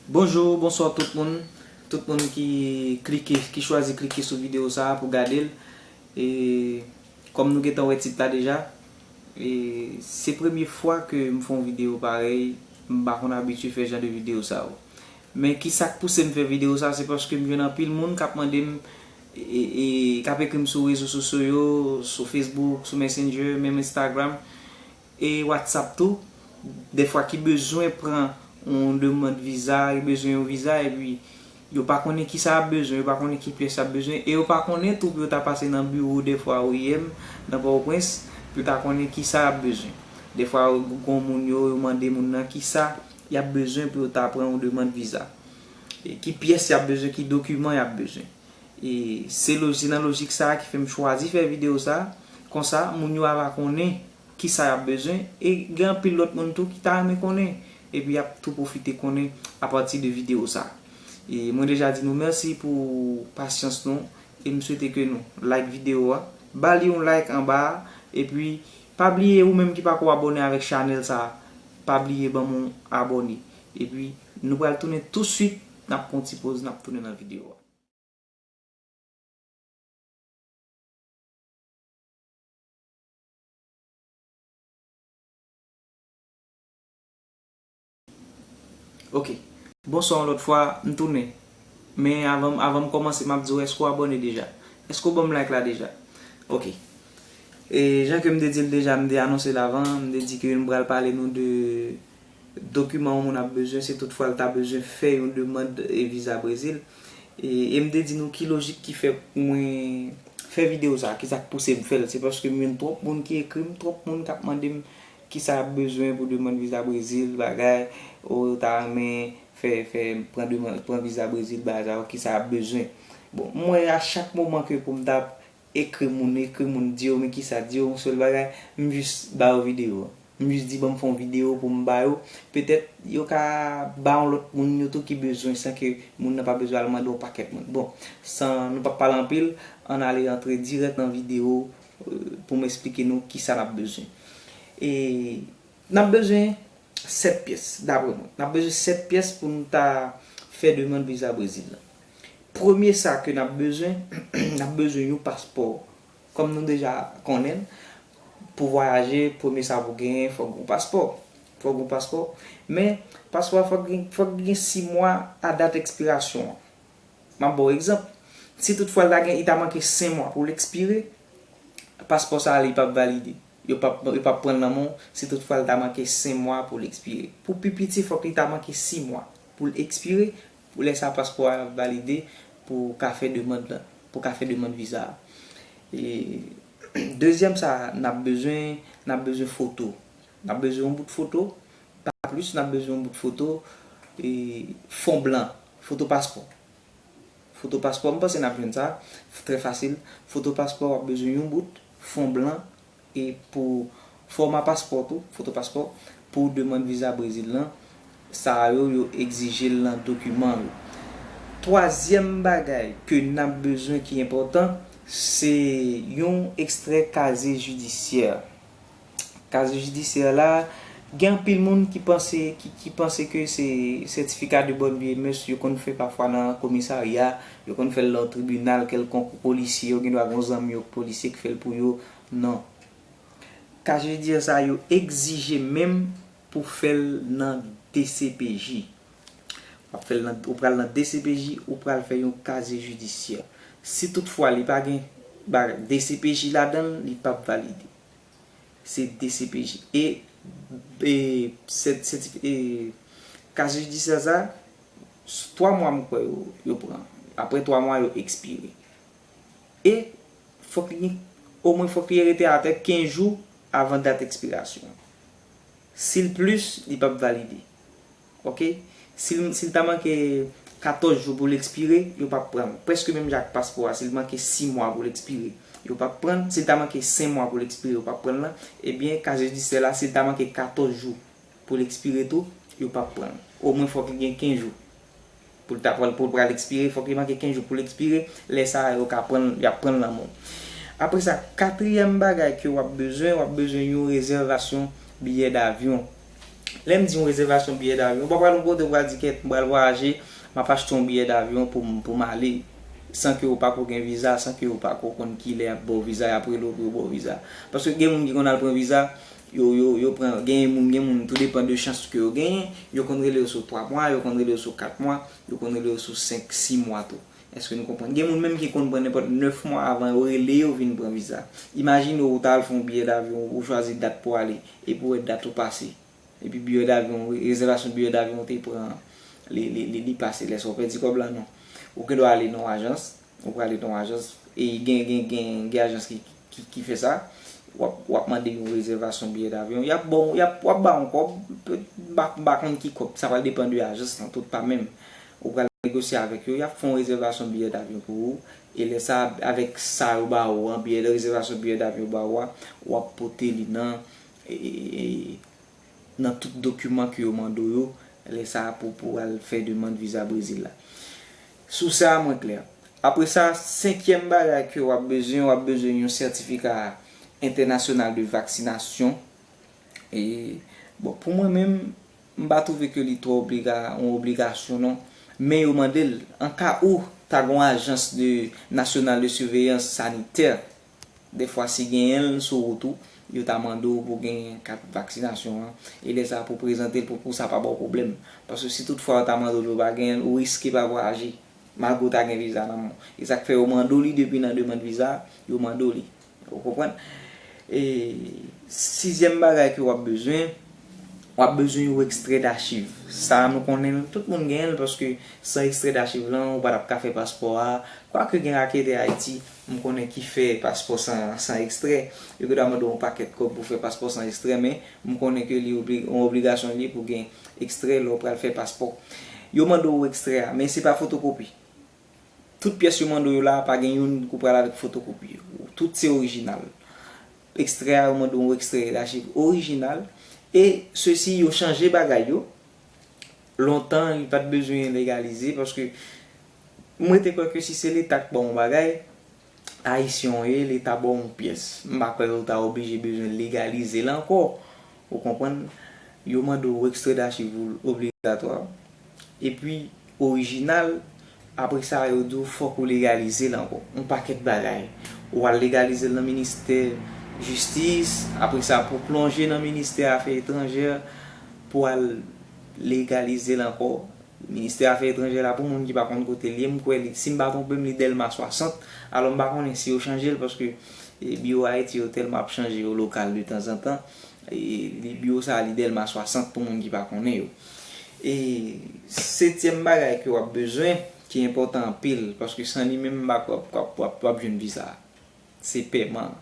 Bonjour bonsoir tout moun tout moun ki klike ki chwazi klike sou video sa pou gadel e kòm nou gentan wè tit la deja e se premye fwa ke m fè yon video parèy m pa konn abitye fè jan de video sa yo Men kisak pousem fè video sa se paske m jwenn anpil moun kap mandem e kap ekrim sou rezo sosyo yo sou Facebook sou messenger menm Instagram e WhatsApp tou dèfwa ki bezwen pran yon demand viza yo bezwen yon viza epi yo pa konnen kisa yap bezwen yo pa konnen ki pyès yap bezwen e yo pa konnen tou pou yo ta pase nan biwo dèfwa oim nan Pòtoprens pou yo ta konnen kisa yap bezwen dèfwa gon moun yo yo mande moun nan kisa y ap bezwen pou yo ta pran yon demand viza. Ki pyès y ap bezwen, ki dokiman y ap bezwen. E se lo, se nan lojik sa a ki fè m chwazi fè videyo sa a. Konsa, moun yo ava konnen ki sa y ap bezwen. E gen anpil lòt moun tou ki ta renmen konnen. Epi y ap tou pwofite konnen apati de videyo sa a. E mwen deja di nou mèsi pou pasyans nou. E m swete ke nou like videyo a. Ba li yon like anba a. Epi Pa bliye ou menm ki pako abòne avèk chanèl sa pa bliye banm yon abòne epi nou pral tounen tou swit nap pran yon ti poz nap tounen nan video a. Ok. Bonswa yon lòt fwa, m tounen. Men avan avan m kòmanse m ap di w èske w abòne deja? Èske w ban m like la deja? Ok. E jan ke m te di l deja, m te anonse l avan, m te di ke m pral pale nou de dokiman yon moun ap bezwen si tout fwa l ta bezwen fè yon demand viza Brezil. E m te di nou ki lojik ki fè mwen fè videyo sa, kisa k pouse m fè l. Se paske m jwenn twòp moun ki ekri m, twòp moun k ap mande m Kisa yap bezwen pou demand viza brezil bagay ou ta renmen fè fè pran demand pran viza brezil bagay sa yo kisa yap bezwen bon m wè a chak moman ke poum ta ekri moun ekri moun di yo men kisa di yo yon sèl bagay m jis ba yo video an m jis di banm fè yon video poum ba yo petèt yo ka ba yon lòt moun yo tou ki bezwen san ke moun nan pa bezwen al mande yon pakèt moun bon san nou pap pale anpil ann ale antre dirèk nan video Pou m esplike nou ki sa n ap bezwen. E N ap bezwen 7 pyès, dapre mwen. N ap bezwen 7 pyès pou nou ta fè demand viza Brezil la. Premye sa ke n ap bezwen, n ap bezwen yon paspò. Kòm nou deja konnen l, pou vwayaje, premye sa pou genyen, fòk gen yon paspò. Fòk gen yon paspò. Men, paspò a fòk gen 6 mwa a dat ekspirasyon an. M ap ba w egzanp, si tout fwa l ta gen, li ta manke 5 mwa pou l ekspire, paspò sa a li p ap valide. Yo p ap yo p ap pran l nan men w si tout fwa l ta manke 5 mwa pou l ekspire. Pou pi piti fòk li ta manke 6 mwa pou l ekspire, pou lè sa a paspò a ap valide pou w ka fè demand lan, pou w ka fè demand viza a. E dezyèm sa a n ap bezwen, n ap bezwen foto. N ap bezwen yon bout foto, Pa plis n ap bezwen yon bout foto fon blan. Foto paspò. Foto paspò, m panse n ap jwenn sa, trè fasil. Foto paspò, w ap bezwen yon bout fon blan e pou fòma paspò tou, foto paspò, pou demand viza Brezil lan, sa a yo, yo egzije l nan dokiman yo. Twazyèm bagay ke n ap bezwen ki enpòtan, se yon ekstrè kazye jidisyè. Kaz jidisyè la, gen anpil moun ki panse, ki panse ke se sètifika de bonne vie et mœurs yo konn fè pafwa nan komisarya, yo konn fè l nan tribinal kèlkonk pou polisye yo, gen dwa gen yon zanmi yo ki polisye ki fè l pou yo. Non. Kaz jidisyè sa yo egzije menm pou fè l nan dcpj. W ap fè l nan, ou pral nan dcpj, ou pral fè yon kazye jidisyè. Si tout fwa li pa gen ba dcpj ladan l, li p ap valide. se dcpj e Case judiciaire sa 3 mwa m kwè yo pran aprè 3 mwa yo ekspire e fòk li gen o mwen fòk li rete atè 15 jou avan dat ekspirasyon si l plis li pap valide. Ok. Si l si l ta manke 14 jou pou l ekspire, yo p ap pran l. Prèske menm jan ak paspò a, si l manke 6 mwa pou l ekspire, yo p ap pran l. Si l ta manke 5 mwa pou l ekspire, yo p ap pran l nan. Ebyen, kase jidisyè la, si l ta manke 14 jou pou l ekspire tou, yo p ap pran l. Omwen fòk li gen 15 jou Pou l ta pran pou l pral ekspire fòk li manke 15 jou pou l ekspire lè sa a yo ka pran l y ap pran l nan men w. Apre sa katriyèm bagay ke w ap bezwen w ap bezwen yon rezèvasyon biyè davyon. Lè m di yon rezèvasyon biyè davyon ou pa pral yon kote ou pral di kèt m pral vwayaje m ap achte yon biyè davyon pou m pou m ale san ke ou pako gen viza san ke ou pako konn kilè y ap ba w viza y ap rele w pou yo ba w viza paske gen moun ki konn al pran viza Yo yo yo pran genyen moun gen moun tou depan de chans ke yo genyen yo konn rele yo sou 3 mwa yo konn rele yo sou 4 mwa yo konn rele yo sou 5 6 mwa tou eske nou konprann gen moun menm ki konn pran nenpòt 9 mwa avan yo rele yo vin pran viza imajine ou ta al fon biyè davyon ou chwazi dat pou ale epi ou wè dat ou pase epi biyè davyon rezèvasyon biyè davyon ou te pran an li li li pase lè sa ou pèdi kòb la non ou gendwa ale nan yon ajans Ou prale nan yon ajans, e gen gen ajans ki fè sa, w ap mande yon rezèvasyon biyè davyon, y ap baw, w ap ba yon kòb, m pa konn ki kòb, sa pral depan de ajans lan tou, pa menm. Ou pral negosye avèk yo, y ap fè yon rezèvasyon biyè davyon pou ou, e lè sa a, avèk sa yo ba ou an, rezèvasyon biyè davyon yo ba ou a, w ap pote li nan. nan tout dokiman ke yo mande w yo lè sa a pou pou al fè demand viza Brezil la. Sou sa a mwen klè. Apre sa, senkyèm bagay ke w ap bezwen, w ap bezwen yon sètifika entènasyonal de vaksinasyon. E, bon, pou mwen menm, m pa twouve ke li twò obliga, yon obligasyon non. Men yo mande l, an ka ou ta gen yon ajans de, nasyonal de siveyans sanitè Dèfwa si genyen l sou wout ou, yo ta mande w pou gen kat vaksinasyon an, e lè sa pou prezante l pou pou sa pa ba w pwoblèm. Paske si tout fwa yo ta mande w epi w pa genyen l, ou riske pa vwayaje, malgre w ta gen viza nan men w. E sa k fè yo mande w li depi nan demand viza a, yo mande w li. Ou konprann? E sizyèm bagay ke w ap bezwen, w ap bezwen yon ekstrè dachiv. Sa a nou konnen l, tout moun genyen l paske san ekstrè dachiv lan, ou pa t ap ka fè paspò a, kwake gen raketè Ayiti, M konnen ki fè paspò san san ekstrè. Yo gen dwa mande w yon pakèt kòb pou fè paspò san ekstrè men m konnen ke li obli yon obligasyon li ye pou gen ekstrè lè w pral fè paspò. Yo mande w ekstrè a men se pa fotokopi. Tout pyès yo mande w yo la a pa gen youn ou pral avèk fotokopi yo. Tout se orijinal. Ekstrè a yo mande w yon ekstrè elajiv orijinal e sesi yo chanje bagay yo. Lontan li pa t bezwen legalize paske. M rete kwè ke si se leta k ba w yon bagay, Ayisyen w ye, leta ba w yon pyès, m pa kwè yo ta oblije bezwen legalize l ankò, ou konprann, yo mande w ekstredasivou obligatwa, epi orijinal, apre sa yo di w fòk ou legalize l ankò, yon pakèt bagay. Ou al legalize l nan ministè jistis, apre sa pou w plonje nan ministè afè etranjè pou w al legalize l ankò. Ministè afè etranjè la pou moun ki pa konn kotel ye m kwè li si m pa twonpem li Dèlma 60 alò m pa konnen si yo chanjel paske biwo Ayiti yo tèlman ap chanje yo lokal de tanzantan li biwo sa li Dèlma 60 pou moun ki pa konnen yo e setyèm bagay ke wap bezwen ki enpòtan anpil paske san li menm m pa kwè wap wap jwenn visa se pèman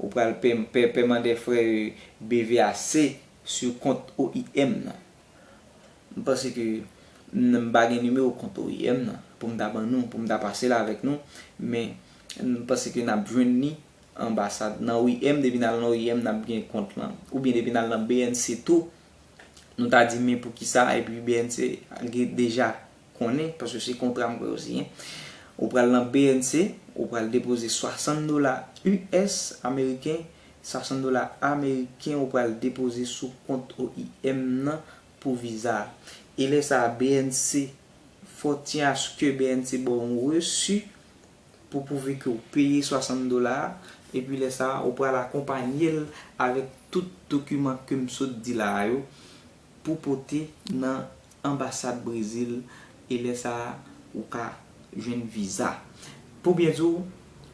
ou pral pèman dè frè BVAC sou kont OIM nan. M panse ke m pa gen nimewo kont oim nan pou m ta ban nou, pou m ta pase l avèk nou, men m panse ke n ap jwenn ni anbasad nan oim, depi n al nan oim n ap gen kont lan, oubyen depi n al nan bnc tou, nou ta di men poukisa epi bnc gen deja. konnen, paske se kontra m kwè yo siyen, ou pral nan BNC, ou pral depoze 60 dola US, ameriken, 60 dola ameriken ou pral depoze sou kont OIM nan pou viza a. E lè sa a BNC, fò tyen aske BNC ba w yon resi pou pwouve ke w peye 60 dola a, epi lè sa a ou pral akonpanye l avèk tout dokiman ke m sot di la a yo, pou pote nan anbasad Brezil e lè sa a ou ka jwenn viza. Pou byen di w,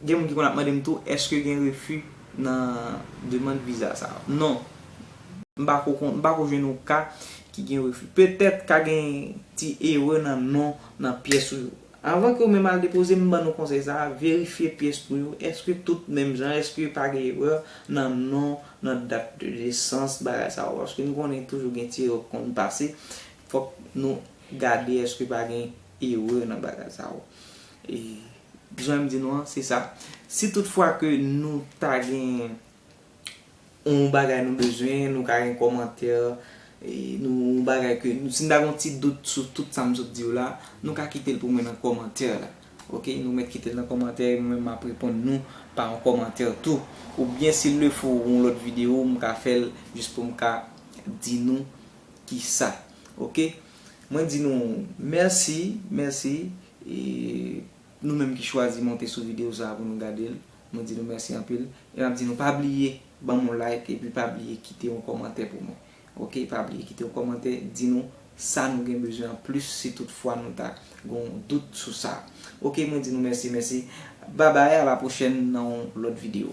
gen moun ki konn ap mande m tou èske gen refi nan demand viza sa yo. Non, m pa ko konn, m pa ko jwenn yon ka ki gen refi. Petèt ka gen ti erè nan non, nan pyès ou Avan ke ou menm al depoze m ban nou konsèy sa, verifye pyès pou yo, eske tout menm jan, eske pa gen erè nan non, nan dat de nesans, bagay sa yo. Paske nou konnen toujou gen ti erè ki konn pase, fòk nou gade eske pa gen erè nan bagay sa yo. E jan m di nou an, se sa. Si tout fwa ke nou ta gen. yon bagay nou bezwen, nou ka gen kòmantè, nou yon bagay ke, si nou ta gen yon ti dout sou tout sa m sot di yo la, nou ka kite l pou mwen nan kòmantè la. Ok, nou mèt kite l nan kòmantè e mwen menm m ap reponn nou pa yon kòmantè tou. Oubyen si l le fo yon lòt videyo m ka fè l jis pou m ka di nou ki sa. Ok, mwen di nou mèsi, mèsi e nou menm ki chwazi monte sou videyo sa pou nou gade l. Mwen di nou mèsi anpil e map di nou pa bliye banm yon like epi pa bliye kite yon kòmantè pou mwen ok pa bliye kite yon kòmantè di nou sa nou gen bezwen an plis si tout fwa nou ta gen yon dout sou sa ok mwen di nou mèsi mèsi babay a la pwochèn nan yon lòt video.